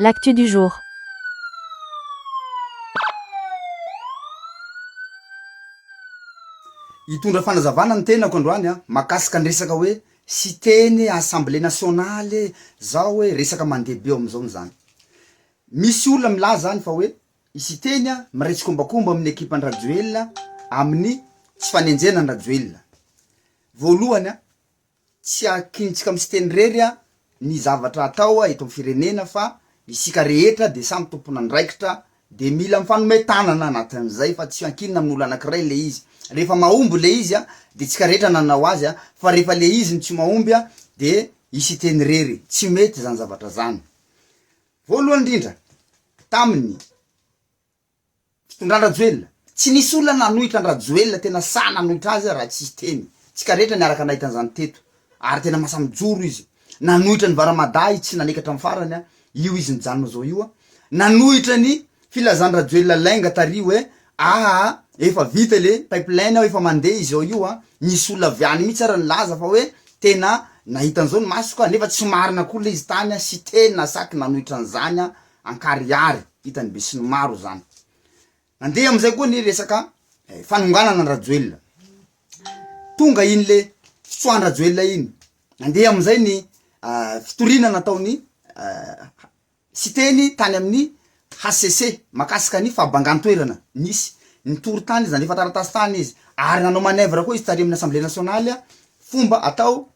L'actu du jour. Hitondra fanazavana ny tenako androany an, mahakasika ny resaka hoe Siteny e, Assemblée nationale e, zao e, resaka mandeha be ao amzao ny zany. Misy olona milaza any fa hoe i Siteny an miray tsikombakomba amin'ny ekipa an'i Rajoelina amin'ny tsy fanenjehana an'i Rajoelina. Voalohany an, Tsy akintsika amin'i Siteny irery ny zavatra atao eto amin'ny firenena fa isika rehetra dia samy tompon'andraikitra dia mila mifanome tanana anatin'izay fa tsy ankinina amin'olo anankiray ilay izy. Rehefa mahomby ilay izy dia isika rehetra nanao azy fa rehefa ilay izy no tsy mahomby dia i Siteny irery. Tsy mety izany zavatra izany. Voalohany indrindra, tamin'ny. Fitondran-dRajoelina. Tsy nisy olona nanohitra an-dRajoelina tena sahy nanohitra azy raha tsy teny. Tsika rehetra niaraka nahita an'izany teto. Ary tena masaha mijoro izy. Nanohitra an'i Varamada i tsy naneky hatramin'ny farany a. Io izy nijanona izao io a. Nanohitra ny filazan-dRajoelina lainga tary hoe aa efa vita le pipeline ao efa mandeha izao io a. Nisy olona avy any mihitsy ary nilaza fa hoe tena nahita an'izao ny masoko a. Nefa tsy marina koa le izy tany a. Siteny na saky nanohitra an'izany a. Ankarihary, hitany besinimaro zany. Nandeha amizay koa ny resaka fanonganana an Rajoelina. Tonga iny le fitsoahan Rajoelina iny. Nandeha amizay ny fitoriana nataony Siteny tany aminy HCC makasika ny fahabangan toerana nisy. Nitory tany izy, nandefa taratasy tany izy. Ary nanao manœuvre koa izy tary aminy Assemblée Nationale fomba atao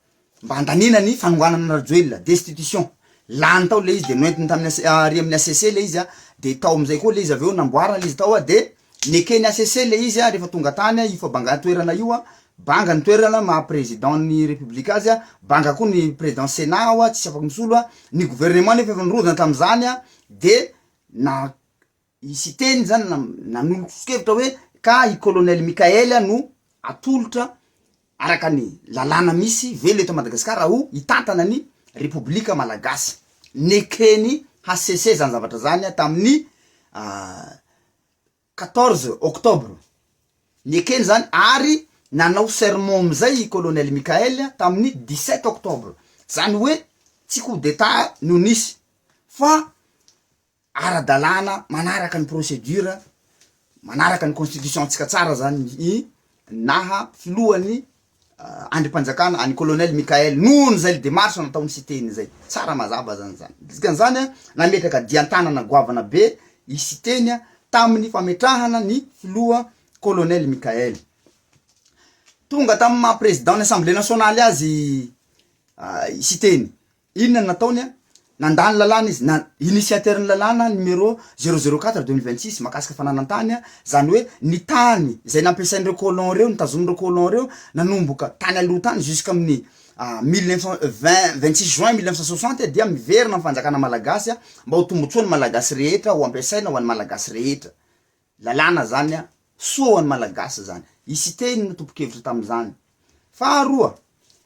mba handaniana ny fanonganana an'i Rajoelina, destitution, lany tao ilay izy dia noentiny tamin'ny HCC, ary amin'ny HCC ilay izy an, dia tao amin'izay koa ilay izy avy eo namboarina ilay izy tao an, dia neken'ny HCC ilay izy an, rehefa tonga tany an, io fa banga toerana io an, banga ny toerana maha président ny république azy an, banga koa ny président sénat ao an, tsisy afaka misolo an, ny gouvernement nefa efa nirodana tamin'izany an, dia na. I Siteny zany nanolo-troso-kevitra hoe ka i Colonel Mickael no atolotra araka ny lalàna misy velona eto Madagasikara ho hitantana ny Repoblika Malagasy. Neken'i HCC zany zavatra zany tamin'ny quatorze octobre. Nekeny zany ary nanao serment amizay i Colonel Mickael tamin'ny dix-sept octobre. Zany hoe tsy coup d'Etat no nisy fa ara-dalàna manaraka ny procédure manaraka ny constitution ntsika tsara zany ny naha filohan'ny andrimpanjakana any colonel Mickaël noho ny zay démarche nataony sy teny zay tsara mazava zany zany dikan'izany an nametraka dian-tanana goavana be i Siteny an tamin'ny fametrahana ny filoha colonel Mickaël tonga tamin'ny maha président ny assemblée nationale azy i Siteny Inona no nataony an? Nandà ny lalàna izy, na initiateur ny lalàna numéro zéro zéro quatre deux mille vingt six mahakasika fananan-tany an, izany hoe ny tany izay nampiasain'ireo colons ireo, notazonin'ireo colons ireo nanomboka tany aloha tany jusqu'amin'ny mille neuf cent vingt, vingt six juin mille neuf cent soixante dia miverina amin'ny fanjakana malagasy mba ho tombotsoan'ny malagasy rehetra, ho ampiasaina ho an'ny malagasy rehetra. Lalàna zany an, soa ho an'ny Malagasy zany. I Siteny no tompon-kevitra tamin'izany. Faharoa,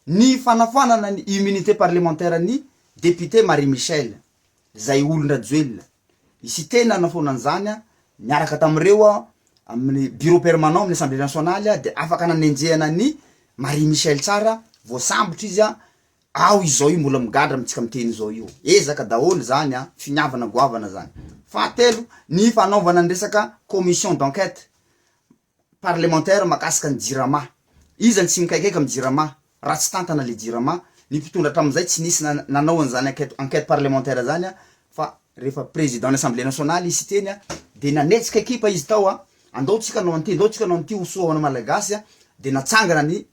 ny fanafoanana ny immunité parlementaire an'i député Marie Michelle, izay olon-dRajoelina. I Siteny nanafoana an'izany an, niaraka tamin'ireo an, amin'ny bureau permanent amin'ny Assemblée nationale dia afaka nanenjehana an'i Marie Michelle tsara, voasambotra izy an, Ao izao io mbola migadra amintsika miteny izao io. Ezaka daholo izany an, finiavana goavana izany. Fahatelo, ny fanaovana ny resaka commission d'enquête parlementaire makasika ny jirama. Iza no tsy mikaikaika amin'ny jirama raha tsy tantana ilay jirama. Ny mpitondra hatramin'izay tsy nisy nanao an'izany enquête enquête parlementaire izany an, fa rehefa président ny assemblée nationale izy siteny an, dia nanetsika ekipa izy tao an, andao tsika hanao an'ity, andao tsika hanao an'ity ho soa ho an'ny malagasy an, dia natsangana ny.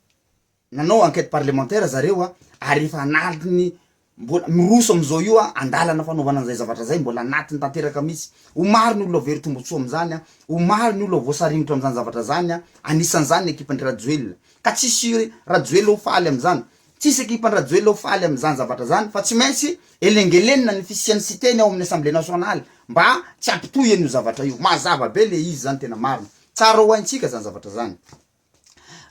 Nanao enquête parlementaire zareo a, ary efa anatiny mbola miroso amizao io a, andalana fanaovana anizay zavatra zay, mbola anatiny tanteraka mihitsy. Ho maro ny olona very tombotsoa amizany a, ho maro ny olona voasaringotra amizany zavatra zany a, anisanizany ny ekipandry Rajoelina. Ka tsisy Rajoelina ho faly amizany, tsisy ekipandry Rajoelina ho faly amizany zavatra zany fa tsy maintsy elengelenina ny fisiany siteny ao aminy Assemblée Nationale mba tsy hampitohy anio zavatra io. Mazava be le izy zany tena marina. Tsara ho haintsika zany zavatra zany.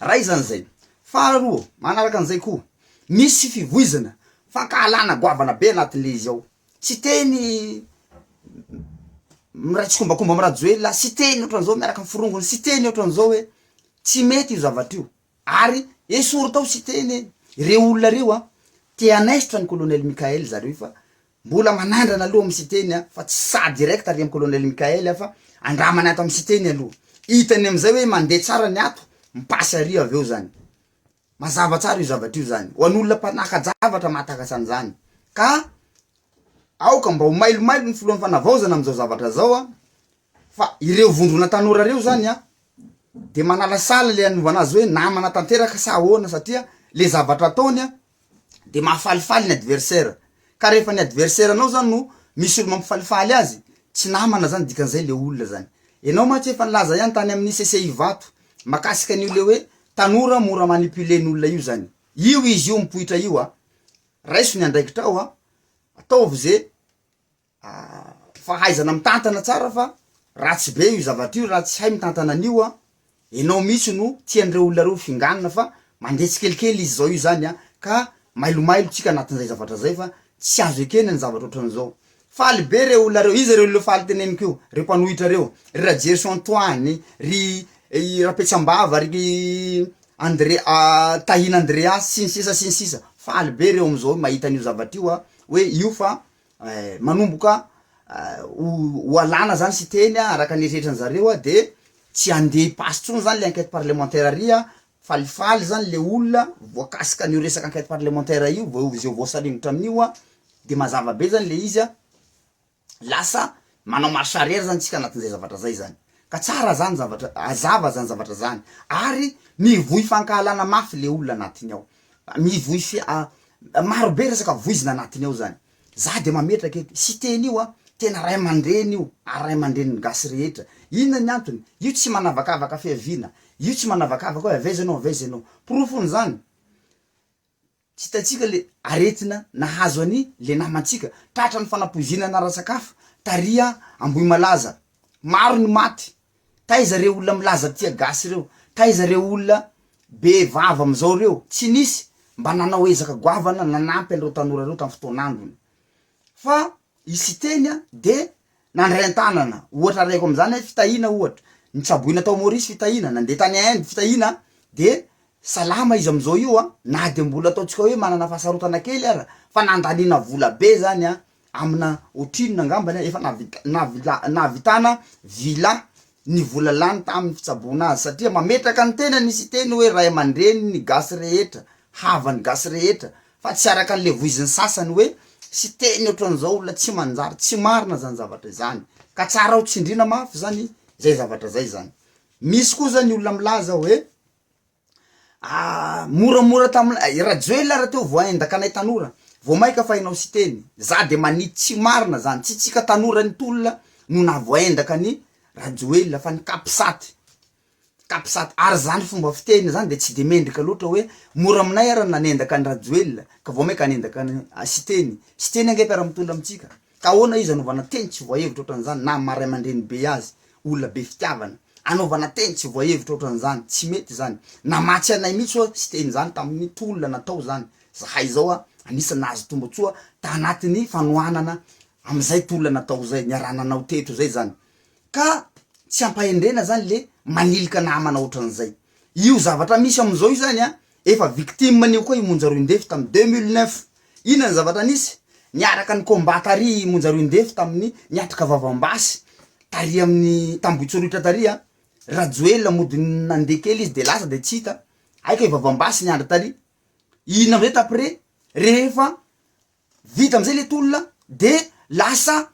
Ray izany izay. Faharoa, manaraka an'izay koa, misy fivoizana, fankahalana goavana be anatin'le izy ao. Tsy teny miray tsikombakomba am Rajoelina, tsy teny ohatran'izao miaraka am forongony, tsy teny ohatran'izao hoe tsy mety io zavatra io. Ary esory tao tsy teny hoe, reo olona reo an, te hanaisotra an'i Colonel Mickaël zareo fa Mbola manandrana aloha amin'ny Siteny a, fa tsy saha direct ary amin'ny Colonel Mickael a, fa andramana ato amin'ny Siteny aloha. Hitany amin'izay hoe mandeha tsara ny ato, mi-passe ary avy eo zany. Mazava tsara io zavatra io zany, ho an'olona mpanaka-javatra mahatakatra an'izany. Ka aoka mba ho mailomailo ny Filohan'ny Fanavaozana amin'izao zavatra izao a, Fa ireo vondrona tanora reo zany a de manalasala le anovana azy hoe namana tanteraka sa ahoana satria le zavatra ataony a de mahafalifaly ny adversaire ka rehefa ny adversaire nao zany no misy olo mampifalifaly azy tsy namana zany dikan'izay le olona zany enao mantsy efa nilaza ihany tany amin'ny sese ivato makasika an'io le hoe tanora mora manipuler ny olona io zany io izy io mipoitra io a raiso ny andraikitrao a ataovy ze fahaizana mitantana tsara fa ratsy be io zavatra io raha tsy hay mitantana an'io an, enao mihitsy no tian'ireo olona reo finganina fa mandeha tsikelikely izy zao io zany an, ka mailomailo tsika anatin'izay zavatra zay fa tsy azo ekena ny zavatra otran'izao, faly be reo olona reo, iza reo olona faly teneniko io, reo mpanohitra reo, ry Rajerison Antoine, ry Rapetsambava, ry Andre Tahina Andreas sy ny sisa sy ny sisa, faly be reo am'zao mahita an'io zavatra io an, hoe io fa manomboka ho alana zany Siteny araka ny eritreritran zareo de tsy ande hipaso tsony zany le enquete parlementaire ary a, falifaly zany le olona voakasika an'io resaka enquete parlementaire io vao izay voasaringotra amin'io a, de mazava be zany le izy a, lasa Manao marche arrière zany tsika anatin'izay zavatra zay zany. Ka tsara zany zavatra, azava zany zavatra zany. Ary mivoy fankahalana mafy le olona anatiny ao. Mivoy fi a, maro be resaka voizina anatiny ao zany. Za de mametraka eto, Siteny io a, tena ray aman-dreny io, ary ray aman-drenin'ny gasy rehetra. Inona ny antony? Io tsy manavakavaka fiaviana. Io tsy manavakavaka hoe avy aiza enao, avy aiza enao. Porofon'izany, Tsy hitantsika le aretina nahazo any le namantsika, tratra ny fanapoizinana ara-sakafo tary Ambohimalaza, maro ny maty, taiza reo olona milaza tia gasy reo, taiza reo olona be vava amizao reo, tsy nisy mba nanao ezaka goavana nanampy an'ireo tanora reo tam fotoan'androny, fa i Siteny de Nandray an-tanana ohatra arahiko amin'izany hoe fitahiana ohatra, nitsaboina tao Maurice fitahiana, nandeha tany Inde fitahiana de salama izy amin'izao io an, na de mbola ataontsika hoe manana fahasarotana kely ara fa nandaniana vola be zany an, amina ohatrinona angambany an, efa nahavita nahavila nahavitana vila ny vola lany tamin'ny fitsaboana azy satria mametraka ny tenany izy hiteny hoe ray aman-dreniny gasy rehetra, havan'ny gasy rehetra, Fa tsy araka an'ilay voizin'ny sasany hoe Siteny ohatran'izao olona tsy manjary, tsy marina izany zavatra izany, ka tsara ho tsindriana mafy izany izay zavatra izay izany. Misy kosa ny olona milaza hoe ah moramora taminay, i Rajoelina raha teo vao aendaka anay tanora, vao maika fa enao Siteny, za dia manidy tsy marina izany, tsy tsika tanora ny tolona no nahavoaendaka an'i Rajoelina fa ny Capsat Capsat, ary zany fomba fiteny zany de tsy de mendrika loatra hoe mora aminay ara ny nanendaka an'i Rajoelina ka vao mainka hanendaka an'i Siteny, Siteny ange mpiara mitondra amintsika ka ahoana izy anaovana teny tsy voahevitra otran'izany na maha raimandreny be azy olona be fitiavana anaovana teny tsy voahevitra otran'izany tsy mety zany namatsy anay mitsy oa Siteny zany tamin'ny tolona natao zany zahay zao a anisany nahazo tombotsoa ta anatin'ny fanohanana amizay tolona natao zay niaraha nanao teto zay zany ka tsy ampahendrena zany le manilika namana otran'izay, io zavatra misy amzao io zany a efa victime an'io koa i Monja Roindefy tam deux mille neuf, inona ny zavatra nisy? niaraka ni combat tary i Monja Roindefy tamin'ny niatrika vavambasy tary amin'ny t'Ambohitsorohitra tary a, Rajoelina mody nandeha kely izy de lasa de tsy hita, hay kay vavambasy niandry tary, inona amzay t'après rehefa Vita amizay le tolona de lasa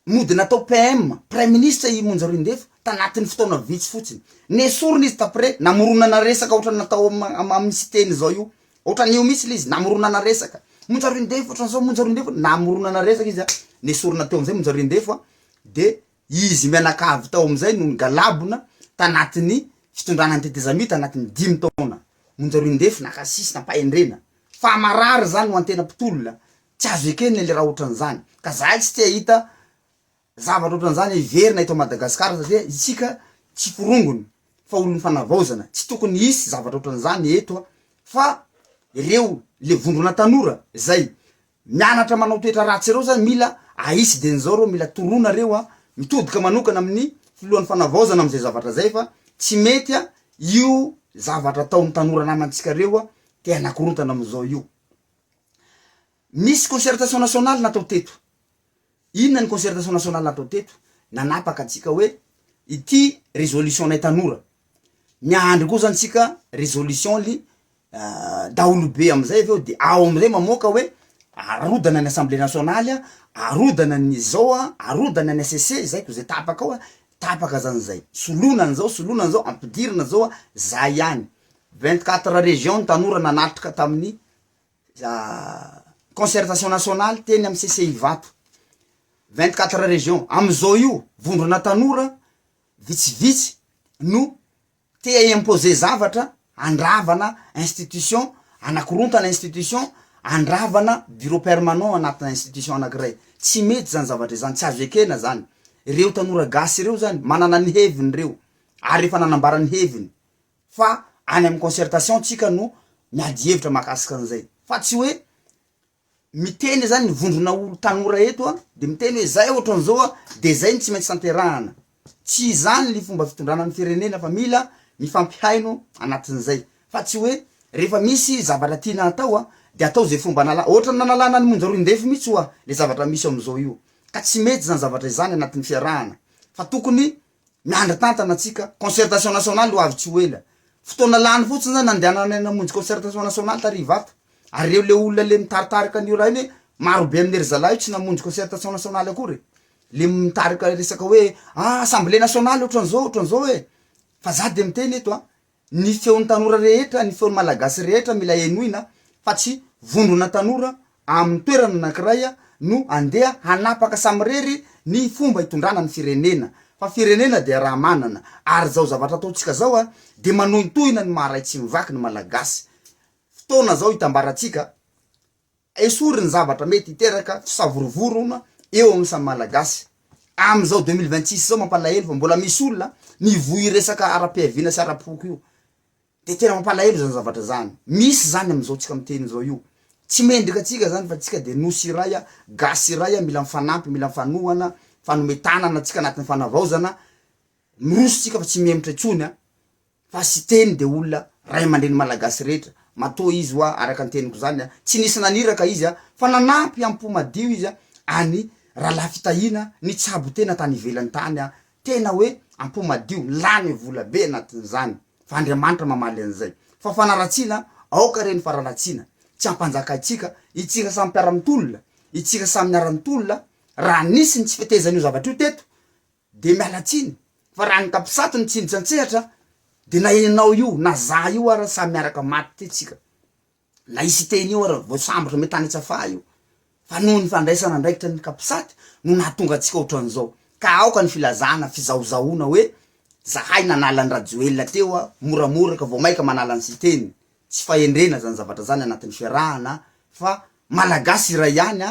nody natao PM, praiminisitra i Monja Roindefo tanatin'ny fotoana vitsy fotsiny. Nesorina izy t'après, namoronana resaka ohatrany natao aminy Siteny zao io. Ohatrany io mitsy le izy, namoronana resaka. Monja Roindefo ohatran'izao, Monja Roindefo, namoronana resaka izy a, nesorina teo amizay Monja Roindefo a, de Izy mianakavy tao amin'izay no nigalabona tanatin'ny fitondrana ny tetezamita anatin'ny dimy taona. Monja Roindefo naka sisy nampahendrena. Fa marary izany ho antena mpitolona. Tsy azo ekena ilay raha ohatran'izany. Ka zahay tsy te-hahita zavatra ohatran'izany hiverina eto Madagasikara satria isika tsy forongony fa olon'ny fanavaozana. Tsy tokony hisy zavatra ohatran'izany eto fa ireo le vondrona tanora izay mianatra manao toetra ratsy reo zany mila ahisy de nizao reo mila toroana reo a mitodika manokana amin'ny filohan'ny fanavaozana amzay zavatra zay fa tsy mety a io zavatra ataon'ny tanora namantsika reo a te hanakorontana amzao io misy concertation nationale natao teto Inona ny concertation nationale atao teto? Nanapaka antsika hoe ity resolution nay tanora. Miandry kosa antsika resolution ly daholobe amizay avy eo de ao amizay mamoaka hoe arodana ny assemblée nationaly a, arodana ny izao a, arodana ny HCC, zay ko zay tapaka ao a, tapaka zany zay. Soloina anizao, soloina anizao, ampidirina zao a, zay ihany. Vingt quatre region ny tanora nanatrika taminy concertation nationale teny amin'ny CCI Ivato, vingt quatre régions, amizao io vondrona tanora vitsivitsy no te hi-imposer zavatra handravana institution, hanakorontana institution, handravana bureau permanent anatina institution anakiray, tsy mety zany zavatra izany, tsy azo ekena zany, reo tanora gasy reo zany manana ny heviny reo ary efa nanambara ny heviny. fa any amin'ny concertation tsika no miady hevitra mahakasika an'izay fa tsy hoe miteny zany ny vondrona olo tanora eto a de miteny hoe zay ohatran'izao a de zay no tsy maintsy tanterahana tsy izany ny fomba fitondrana ny firenena fa mila mifampihaino anatin'izay fa tsy hoe rehefa misy zavatra tiana hatao a de atao ze fomba anala ohatran'ny nanalana an'i monja roindefo mihitsy ho'a le zavatra misy ao am'izao io ka tsy mety zany zavatra izany anatin'ny fiarahana fa tokony Miandry tantana antsika, concertation nationale ho avy tsy ho ela. Fotoana lany fotsiny zany andehananay namonjy concertation nationale tary Ivato. Ary reo le olona le mitaritarika an'io raha io hoe maro be amin'i ry zalahy io tsy namonjy concertation nationale akory e. Le mitarika resaka hoe ah assemblée nationale otran'zao otran'zao e. Fa za de miteny eto an, Ny feon'ny tanora rehetra, ny feon'ny Malagasy rehetra mila henoina fa tsy vondrona tanora amin'ny toerana anankiray no andeha hanapaka samirery ny fomba hitondrana ny firenena fa firenena dia raha manana ary izao zavatra ataontsika izao dia manohintohina ny maha ray tsy mivaky ny Malagasy fotoana izao hitambarantsika Esory ny zavatra mety hiteraka fisavorovoroana eo amin'ny samy Malagasy. Amin'izao deux mille vingt six izao mampalahelo fa mbola misy olona mivoy io resaka ara-piaviana sy ara-poko io. Dia tena mampalahelo izany zavatra izany. Misy izany amin'izao tsika miteny izao io. Tsy mendrika antsika izany fa tsika dia Nosy iray, Gasy iray, mila mifanampy, mila mifanohana, mifanome tanana tsika anatin'ny fanavaozana. Miroso tsika fa tsy mihemotra intsony. Fa Siteny dia olona ray aman-dreny malagasy rehetra, matoa izy hoa araka ny teniko izany a, tsy nisy naniraka izy a, fa nanampy am-po madio izy a, an'i Rahalahy Fitahiana nitsabo tena tany ivelany tany a, tena hoe am-po madio, lany vola be anatin'izany, fa Andriamanitra mamaly an'izay. Fa fanaratsiana aoka ireny fararatsiana, tsy ampanjakaintsika, itsika samy mpiara-mitolona, itsika samy niara-nitolona, raha nisy ny tsy fetezan'io zavatra io teto, Dia miala tsiny fa raha ankapisatu ny tsindry antsehatra dia na enao io na za io ara samy miaraka maty ty tsika na i siteny io ara vao sambotra me tany tsafaha io fa noho ny fandraisana andraikitra ny capsat no nahatonga antsika otran'izao ka aoka ny filazana fizahozahoana hoe zahay nanala an'i rajoelina teo a moramora ka vao maika manala an'i siteny tsy fahendrena zany zavatra zany anatin'ny fiarahana fa malagasy iray ihany a